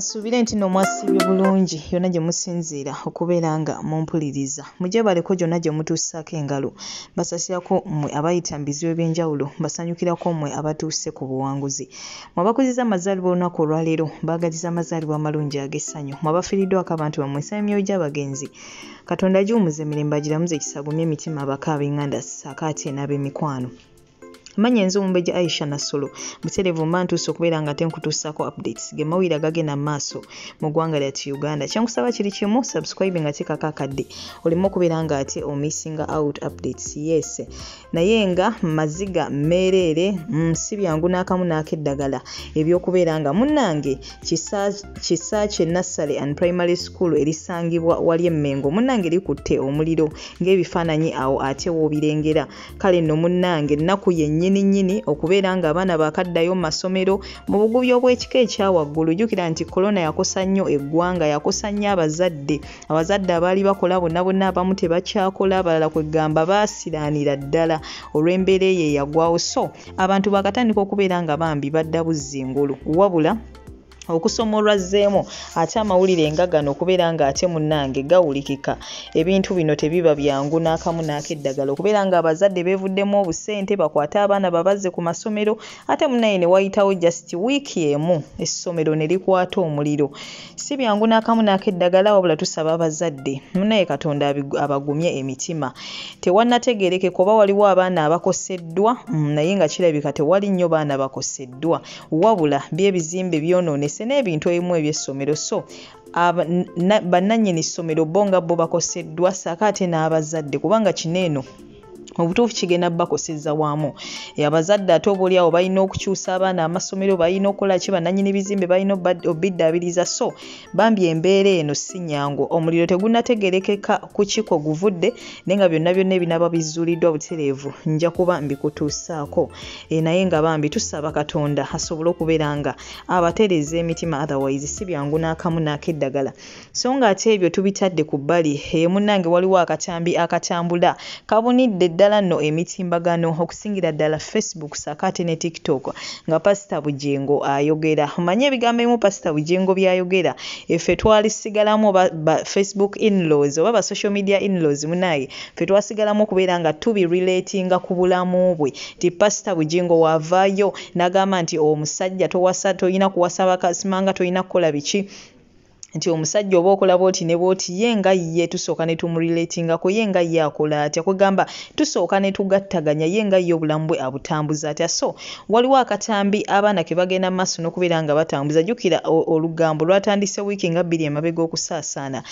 nsuubire nti no mwasibye bulungi yonna gye musinziira okubeera nga mumpuliriza mugyebaleko gyonna gye mutuusaako engalo basasirako mmwe abayita mu bizibu eby'enjawulo basanyukirako mmwe abatuuse ku buwanguzi mwabakuzizza amazaalibwa olunaku olwaleero mbaagaliza amazaalibwa amalungi ag'essanyu mwabafiriddwako abantu bammwe nsaba emyoyo gy'abagenzi katonda agiwumuza emirembe agiramuza ekisagumya emitima abaka ab'enganda saako ate n'ab'emikwano manya enze omumbejja aisha nasolo buterevu mba ntuuse okubeera nga tenkutuusaako updates ge mawulire agagenda mu maaso mu ggwanga lyati uganda kyenkusaba kiri kimu subscribe nga tekako akadde oleme okubeera nga ate omissinga out updates yes naye nga maziga meereere mm, si byangu n'akamu n'akeddagala ebyokubeera nga munnange kisa kye nassale and primary school erisangibwa wali emmengo munnange likutte omuliro ng'ebifaananyi awo ate woobirengera kale nno munnange ennaku yennyini nnyini okubeera ng'abaana baakaddayo mu masomero mu bugubi obw'ekika ekyawaggulu jjukira nti kolona yakosa nnyo eggwanga yakosa nnyo abazadde abazadde abaali bakola bonna bonna abamu tebakyakola abalala kwegamba baasiraanira ddala olw'embeera eyo eyagwawo so abantu bakatandika okubeera nga bambi badda buzzi engulu wabula okusoma olwazzeemu ate amawulire nga gano okubeera ng'ate munnange gawulikika ebintu bino tebiba byangu n'akamu n'akeddagala okubeera ng'abazadde beevuddemu obusente bakwate abaana babazze ku masomero ate munnaye ne wayitawo just wiiki emu essomero ne likwata omuliro si byangu n'akamu n'akeddagala wabula tusaba abazadde munaye katonda abagumye emitima tewannategerekeka oba waliwo abaana abakoseddwa mm, naye nga kirabika tewali nnyo baana bakoseddwa wabula byebizimbe byonoonese n'ebintu ebimu ebyessomero so bannannyini ssomero bo nga bo bakoseddwa saako ate n'abazadde kubanga kino eno mubutuufu kigenda bakoseza wamu abazadde ate obaolyawo balina okukyusa abaana amasomero balina okukola ki bananyini bizimbe balina obiddabiriza so bambi embeera eno si nyangu omuliro tegunategerekeka kukiko guvudde naye nga byonna byonna ebinaba bizuuliddwa butereevu nja kuba mbikutuusaako e, naye nga bambi tusaba katonda asobole okubeera nga abatereeza emitima otherwise si byangu n'akamu n'akeddagala So nga ate ebyo tubitadde ku bbali, eyo munnange waliwo akatambi akatambula kabunidde ddala nno emitimbagano okusingira ddala Facebook ssaako ate ne TikTok nga Pasita Bugingo ayogera. Omanyi ebigambo ebimu Pasita Bugingo by'ayogera effe twalisigalamu oba ba Facebook in-laws oba ba social media in-laws munnange ffe twasigalamu okubeera nga tubi-relatinga ku bulamu bwe nti Pasita Bugingo w'avaayo n'agamba nti omusajja towasa, tolina kuwasa baka, simanga, tolina kukola biki. nti omusajja oba okola bwoti ne bwoti ye nga ye tusooka ne tumuriletingako ye nga ye akola atya kwegamba tusooka ne tugattaganya ye nga ye obulamu bwe abutambuza atya so waliwo akatambi abaana ke bagenda mu maaso n'okubeera nga batambuza jjukira olugambo lwatandise wiiki nga bbiri emabega okusaasaana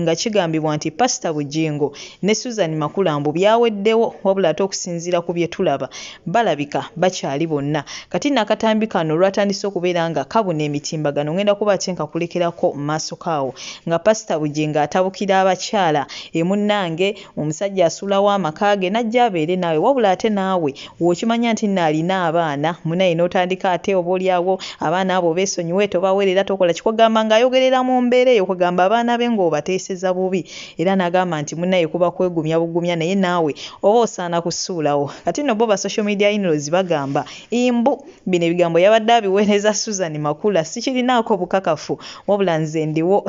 nga kigambibwa nti pasita Bujingo ne Susan Makula mbu byaweddewo wabula ate okusinziira ku bye tulaba balabika bakyali bonna kati nno akatambi kano olwatandise okubeera nga kabuna emitimbagano ngenda kuba ate nkakulekerako mu maaso kaawo nga pasita bugingo atabukira abakyala emunnange omusajja asuulawo amaka ge najja abeere naawe wabula ate naawe wokimanya nti nno alina abaana munaye n'otandika ate oba olyawo abaana abo beesonyiwe tobawerera tokola kikwagamba ng'ayogerera mu mbeera eyo kwegamba abaana be ng'obateeseza bubi Era nagamba nti munaye kuba kwegumya bugumya naye naawe oba osaana kusuulawo. Kati nno bo ba social media inlaws bagamba imbu bino ebigambo yabadde abiwereza Suzan Makula sikirinaako bukakafu wabula nze ndiwo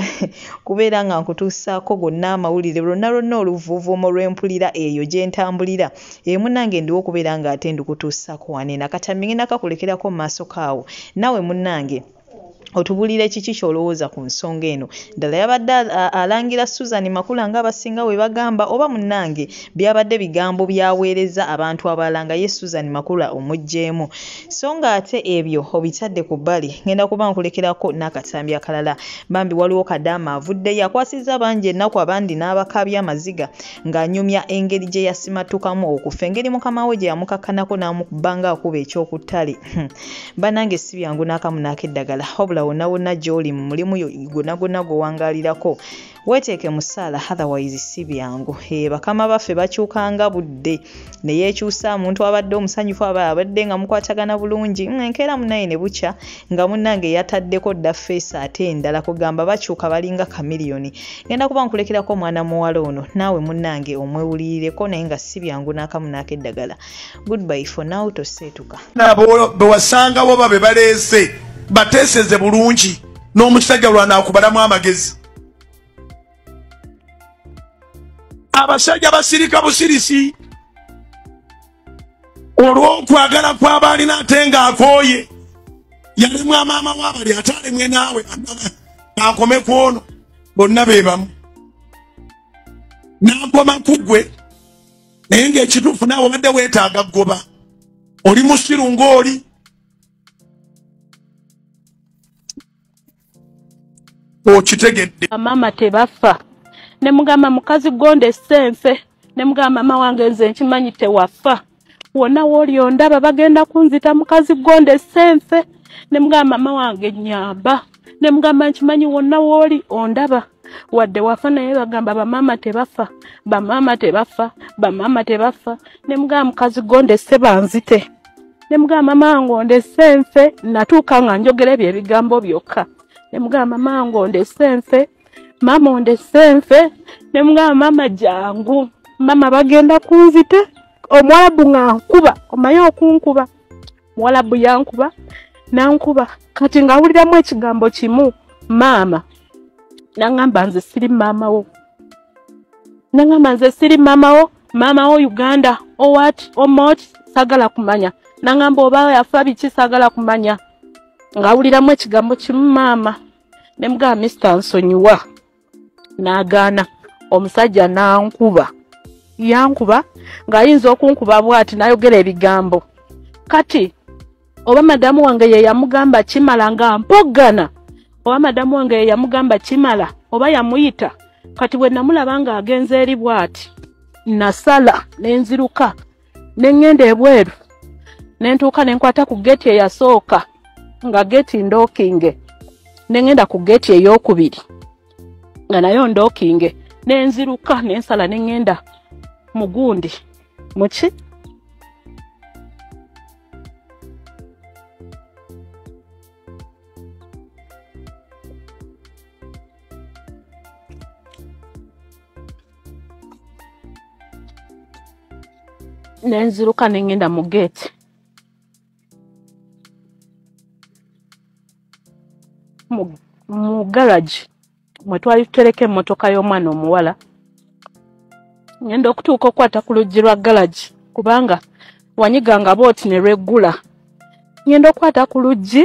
kubeera nga nkutuusaako gonna amawulire lwonna lwonna oluvuuvuumo lwempulira eyo gyentambulira ee munange ndiwo kubeera nga ate ndukutuusaako wano enakata mingina kakulekerako maasoka awo nawe munange otubuulire kiki ky'olowooza ku nsonga eno ddala yabadde alangira susan makula ng'abasinga we bagamba oba munnange byabadde bigambo byaweereza abantu abalala nga ye susan makula omuggyemu so ng'ate ebyo obitadde ku bbali ngenda kuba nkulekerako n'akatambi akalala bambi waliwo kadaama avuddeyo akwasizza bangi ennaku abandi n'abakaabya amaziga ng'anyumya engeri gye yasimattukamu okufa engeri mukama we gye yamukakkanako n'amukubanga akuba ekyokuttale banange si byangu n'akamu n'akeddagala wabula wonawona gy'oli mu mulimu gonagona gwewangaalirako weeteeke mu ssaala otherwise si byangu e bakama baffe bakyukanga budde ne yeekyusa muntu abadde omusanyufu aba abadde nga mukwatagana bulungi mm, enkeera munaye ne bukya nga munnange yataddeko dda feesi ate endala kugamba bakyuka balinga kamiliyoni ngenda kuba nkulekerako omwana muwala ono naawe munnange omwewulirireko naye nga si byangu n'akamu n'akeddagala goodbye for now toseetuka bewasangawo babe baleese bateeseze bulungi n'omusajja lwanaakubalamu amagezi abasajja basirika busirisi olw'okwagala kw'abaalina ate ng'akooye yalemwa maama wabali ate alemwe naawe akome ku ono bonna be bamu n'akoma ku ggwe naye ngaekituufu naawe obadde weetaaga goba oli musiru ngaoli okitegedde maama tebafa ne mugamba mukazi gonda essense ne mugamba maama wange nze nkimanyi tewafa wonna wooli ondaba bagenda kunzita mukazi gonda essense ne mugamba maama wange nyamba ne mugamba nkimanyi wonna wooli ondaba wadde wafa naye bagamba bamaama tebafa bamaama tebafa bamaama tebafa ne mugamba mukazi go ndesse banzite ne mugamba mango ndesse nfe natuuka nga njogera ebyo ebigambo byokka ne mugamba mango ndesse nfe maama ondesse nfe ne mugamba maama jangu maama bagenda kunzite omuwalabu nga nkuba omaye okunkuba muwalabu yankuba nankuba kati ngawuliramu ekigambo kimu maama nangamba nze siri maamawo nangamba nze siri maamawo maamawo uganda owat omot sagala kumanya nangamba oba yafa biki sagala kumanya ngawuliramu ekigambo kimu maama nemugaba mister nsonyiwa n'agaana omusajja n'ankuba yankuba ng'ayinza okunkuba bwati n'ayogera ebigambo kati oba madamu wange ye yamugamba kimala nga mpoggana oba madamu wange ye yamugamba kimala oba yamuyita kati bwe namulaba ng'agenze eri bwati nasala ne nziruka ne ŋŋenda ebweru ne ntuuka ne nkwata ku geeti eyasooka nga geeti ndookinge ne ŋŋenda ku geeti ey'okubiri nga nayo ndookinge ne nziruka ne nsala ne ŋŋenda mu gundi muki nenziruka nengenda mu geeti mu garagi mwe twali tutereka emmotoka y'omwana omuwala ngenda okutuuka okukwata ku luggi lwa garagi kubanga wanyiga nga booti ne lweggula ngenda okukwata ku luggi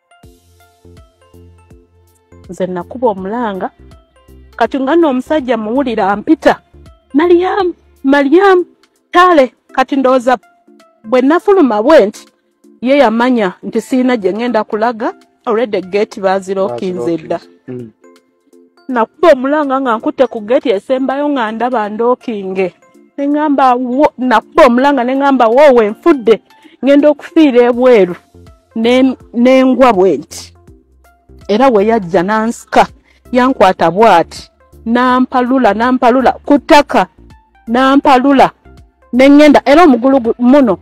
nze nakuba omulanga kati nga no omusajja muwulira ampita malyamu malyamu kale kati ndowooza bwe nafuluma bwe nti ye yamanya nti sirina gye ngenda kulaga already gate bazirokinze dda mm. nakuba omulanga nga nkutte ku geti esembayo nga ndaba ndokinge neŋamba nakuba omulanga neŋamba woowe nfudde ngenda okufiira ebweru nengwa bwe nti era weyajja nansika yankwata bwati nampalula nampalula ku ttaka nampalula neŋenda era omugulu muno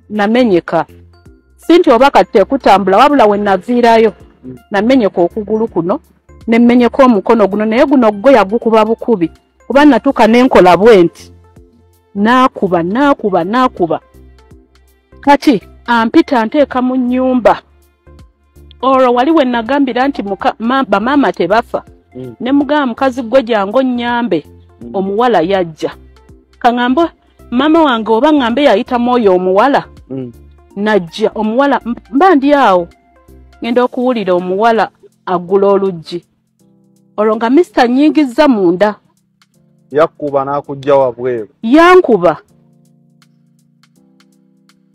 namenyeka si nti oba kati tekutambula wabula we naviirayo mm. namenyeka okugulu kuno ne mmenyeka omukono guno naye guno gwe yagukuba bukubi kuba natuuka ne nkola bwe nti naakuba naakuba naakuba kati ampita nteeka mu nnyumba olwo wali we nagambira nti bamaama tebafa mm. ne mugamba mukazi gwe jangu onnyambe mm. omuwala yajja kaŋambe maama wange oba ŋambe yayitamu oyo omuwala mm. najja omuwala mba ndi awo ŋenda okuwulira omuwala agula oluggi olwo nga misita nyingizza munda yakkuba n'akujja wabweru yankuba